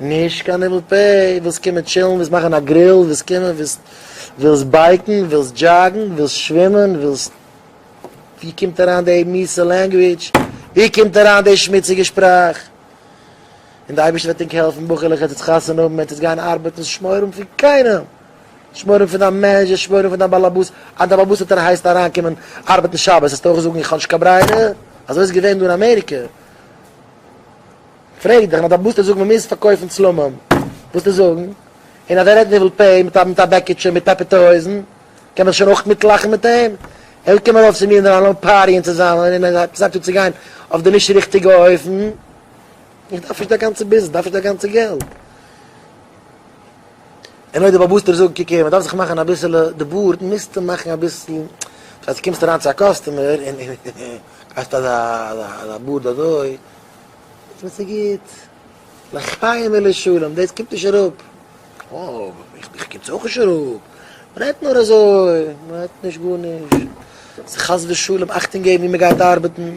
נישט קיין הימל פ, ווילסט קומען טשילן, ווילסט מאכן א גריל, ווילסט קומען, ווילסט, ווילסט בייקן, ווילסט דזשאגן, ווילסט שווימען, ווילסט, ווי קומט אריין די מיסע לענגוויטש, ווי קומט אריין די שמוציגע שפראך? און די אייבערשטער וועט ענק העלפן בחור'לעך עטס עטס חתונה האבן, עטס עטס גייען ארבעטן, שמרים פון קיינעם, שמרים פון דיין מענעדזשער, שמרים פון דיין באלעבאס, אז דיין באבעסיטער הייסט אריין קומען ארבעטן שבת, עסט אויך זאגן איך האב נישט קיין ברירה, אזוי איז געווען דא אין אמעריקע. פרעג דיך נאר בוסטו זאגן מ'מוז פארקויפן צלמים, בוסטו זאגן? און אז ער רעדט ניבול פה מיט א מיט א בעקיטשע מיט פעפערטע הויזן, קען מען זיך שוין אויך מיטלאכן מיט אים? אויב קומען ארויף צו מיר אינדערהיים לאמיר פארטיען צוזאמען און עס הייבט אן צו גיין אויף די נישט ריכטיגע אופן, איך דארף נישט דיין גאנצע ביזנעס, איך דארף נישט דיין גאנצע געלט. און אויב די באבוסטער זאגן קוק הער מ'דארף זיך מאכן אביסעלע די בארד מוזטו מאכן אביסל אז קומסט אריין צו א קאסטומער און קאסט אזא בארד אזוי. איז מיר צו גוט. לחיים ולשלום, דאס קומט נישט אראפ. אוי, איך קומט אויך נישט אראפ. מען רעדט נאר אזוי, מען רעדט נישט גארנישט. חס ושלום אכטונג געבן וואו מען גייט ארבעטן.